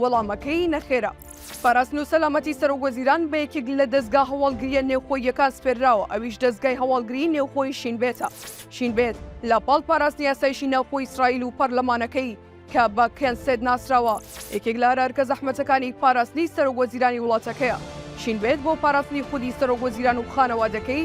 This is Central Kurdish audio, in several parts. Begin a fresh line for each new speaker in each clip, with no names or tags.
وەڵامەکەی نەخێرە. پاراستن و سەلامەتی سەرۆک وەزیران بە یەکێک لە دەزگا هەواڵگرییە نێوخۆییەکان سپێرراوە، ئەویش دەزگای هەواڵگریی نێوخۆی شین بێتە. شین بێت لە پاڵ پاراستنی ئاسایشی ناوخۆی ئیسرائیل و پەرلەمانەکەی کە بە کنسێت ناسراوە، یەکێک لە ئەرئەرکە زەحمەتەکانی پاراستنی سەرۆک وەزیرانی وڵاتەکەیە. شین بێت بۆ پاراستنی خودی سەرۆک وەزیران و خانەوادەکەی،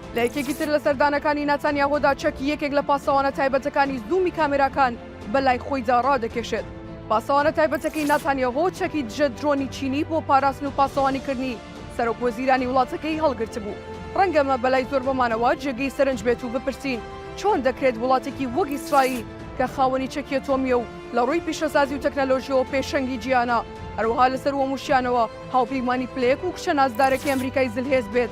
لە یەکێکی تر لە سەردانەکانی ناتانیاهۆدا چەکی یەکێک لە پاسەوانە تایبەتەکانی زوومی کامێراکان بە لای خۆیدا ڕادەکێشێت. پاسەوانە تایبەتەکەی ناتانیاهۆ چەکی دژە درۆنی چینی بۆ پاراستن و پاسەوانیکردنی سەرۆک وەزیرانی وڵاتەکەی هەڵگرتبوو. ڕەنگە ئەمە بەلای زۆربەمانەوە جێگەی سەرنج بێت و بپرسین چۆن دەکرێت وڵاتێکی وەک ئیسرائیل کە خاوەنی چەکی ئەتۆمییە و لە ڕووی پیشەسازی و تەکنەلۆژییەوە پێشەنگی جیهانە، هەروەها لەسەرووەمووشیانەوە هاوپەیمانی پلەیەک و کچە نازدارەکەی ئەمریکای زلهێز بێت؟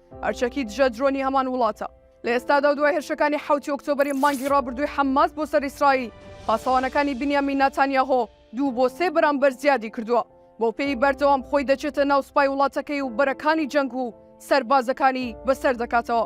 ئەرچەکی دژە درۆنی هەمان وڵاتە. لە ئێستادا و دوای هێرشەکانی حەوتی ئۆکتۆبەری مانگی ڕابردووی حەمماس بۆ سەر ئیسرائیل، پاسەوانەکانی بنیامین ناتانیاهۆ دوو بۆ سێ بەرامبەر زیادی کردووە. بەوپێیی بەردەوام خۆی دەچێتە ناو سوپای وڵاتەکەی و بەرەکانی جەنگ و سەربازەکانی بەسەر دەکاتەوە.